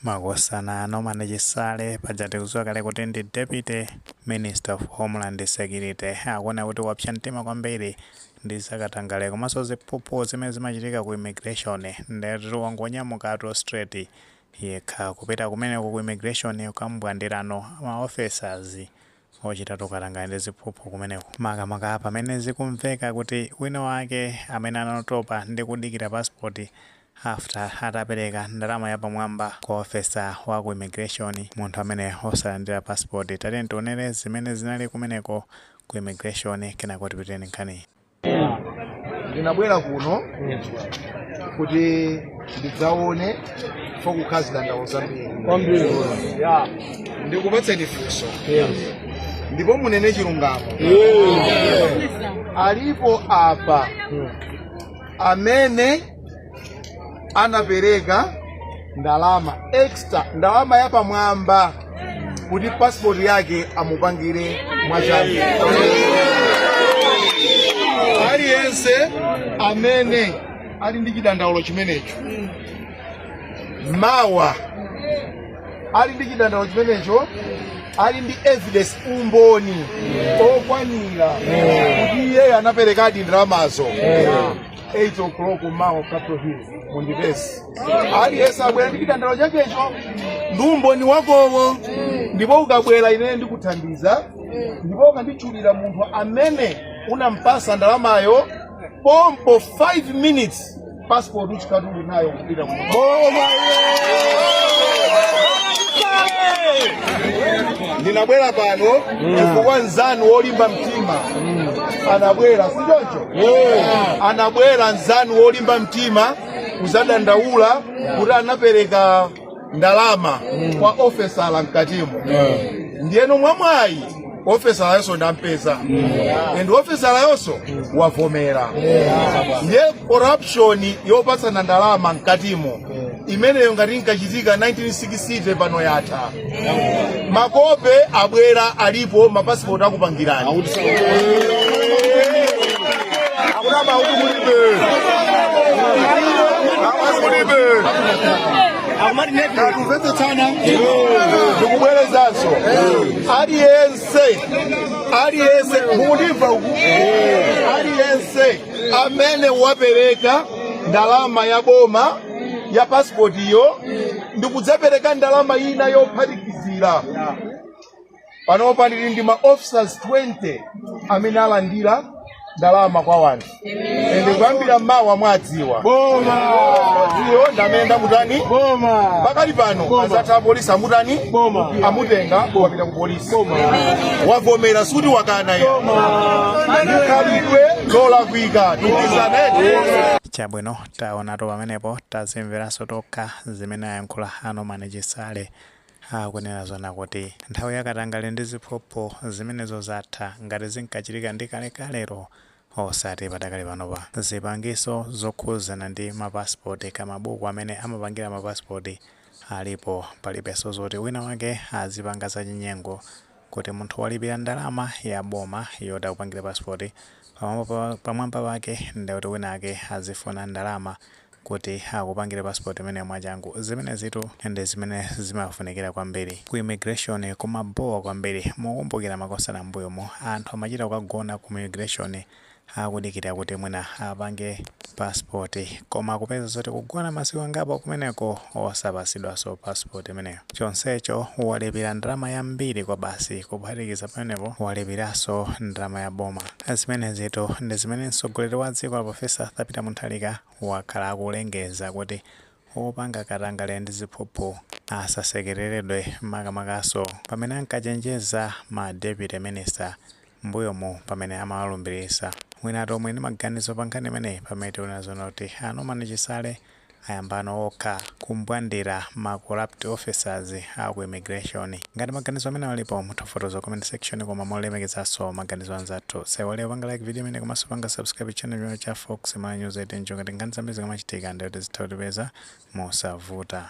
makosana a Norman Chisale paja tikuziwa kale kuti ndi deputy minister of homeland security akuona kuti wapsa mtima kwambiri ndi zakatangale komanso ziphuphu zimene zimachitika ku immigration ndethu wangonyamukatu straight yekha kupita kumeneko ku immigration kukambwandirano ma officers Ochita tu katangale ndi ziphuphu kumeneko makamaka pamene zikumveka kuti wina wake amene anatopa ndi kudikira passport after atapereka ndalama yapamwamba kwa officer wa ku immigration munthu amene osalandira passport tatiyeni tionere zimene zinali kumeneko ku immigration kenako tipite ndi nkhaniyi. ndinabwera kuno kuti ndidzaone pokhala zidandaulo zambiri Kwambiri. Ya. ndikupatseni funso ndipo munene chilungamo alipo apa amene anapereka ndalama extra ndalama yapamwamba kuti passport yake amupangire mwachangu aliyense amene ali ndi chidandaulo chimenecho mawa ali ndi chidandaulo chimenecho ali ndi evidence umboni okwanira kuti iyeyo anaperekadi ndalamazo 8 o'clock mawa Capitol Hill mundipeze. Aliyense abwere ndi chidandaulo chakecho ndi umboni wakowo ndipo ukabwera ine ndikuthandiza ndipo ukanditchulira munthu amene unampasa ndalamayo pompo 5 minutes passport ukatuluka nayo ndinabwera pano chifukwa nzanu wolimba mtima anabwera si choncho anabwera nzanu wolimba mtima kuzadandaula kuti anapereka ndalama kwa ofesala mkatimo ndiyeno mwamwayi ofesalayonso ndampeza and ofesalayonso wavomera ndiye corruption yopatsana ndalama mkatimo imeneyo ngati inkachitika 1960 pano yatha makope abwera alipo mapasipoti akupangirani akuna mauti kulibe mapasi kulibe akumvetsetsana ndikubwerezanso aliyense aliyense mukundimva uku aliyense amene wapereka ndalama ya boma ya pasipoti iyo ndikudzapereka ndalama ina yophatikizira panopa ndili ndi ma officers 20 amene alandira ndalama kwa wanthu ende kuyambira mawa mwadziwa iyo ndamene ndamutani pakali pano azatha apolisi amutani amutenga wapita ku polisi wavomera suti wakana iyo ndikhalidwe lolakwika tikhezenete chabwino Taonatu pamenepo tazimveraso tokha zimene ayankhula a Norman Chisale akunena zona kuti nthawi ya katangale ndi ziphuphu zimenezo zatha ngati zinkachitika ndi kale kalero osati padakali panopa zipangizo zokhuzana ndi ma passport ka mabuku amene amapangira ma passport alipo palibeso zoti wina wake azipanga zachinyengo kuti munthu walipira ndalama ya boma yoti akupangire passport pamwamba pake ndikuti winawake azifuna ndalama kuti akupangire passport imeneyo mwachangu. Zimenezitu ndi zimene zimafunikira kwambiri. Ku immigration kumabowa kwambiri. Mukukumbukira makosana mmbuyomu anthu amachita kukagona ku immigration akudikira kuti mwina apange passport koma kupeza zoti kugona masiku angapo kumeneko osapasidwaso passport imeneyo chonsecho walipira ndalama yambiri kwa basi kuphatikiza pamenepo walipiraso ndalama ya boma zimenezitu ndi zimene mtsogoleri wa dziko a profesa arthur peter mutharika wakhala akulengeza kuti Opanga katangale ndi ziphuphu asasekeleledwe makamakaso pamene ankachenjeza ma deputy minister mbuyomu pamene amawalumbilisa. Mwinatu muli ndi maganizo pa nkhani imeneyi pamene tikunena zoona kuti a Norman Chisale ayambano okha kumbwandira ma corrupt officers a ku immigration. Ngati maganizo amenewo alipo, mutha kufotokoza ku comment section koma molemekezanso maganizo a anzathu. Osaiwala kupanga like video imeneyi komanso kupanga subscribe channel chino cha Fox Malawi News 8 n'cholinga choti nkhani zambiri zikamachitika ndithu zitha kutipeza mosavuta.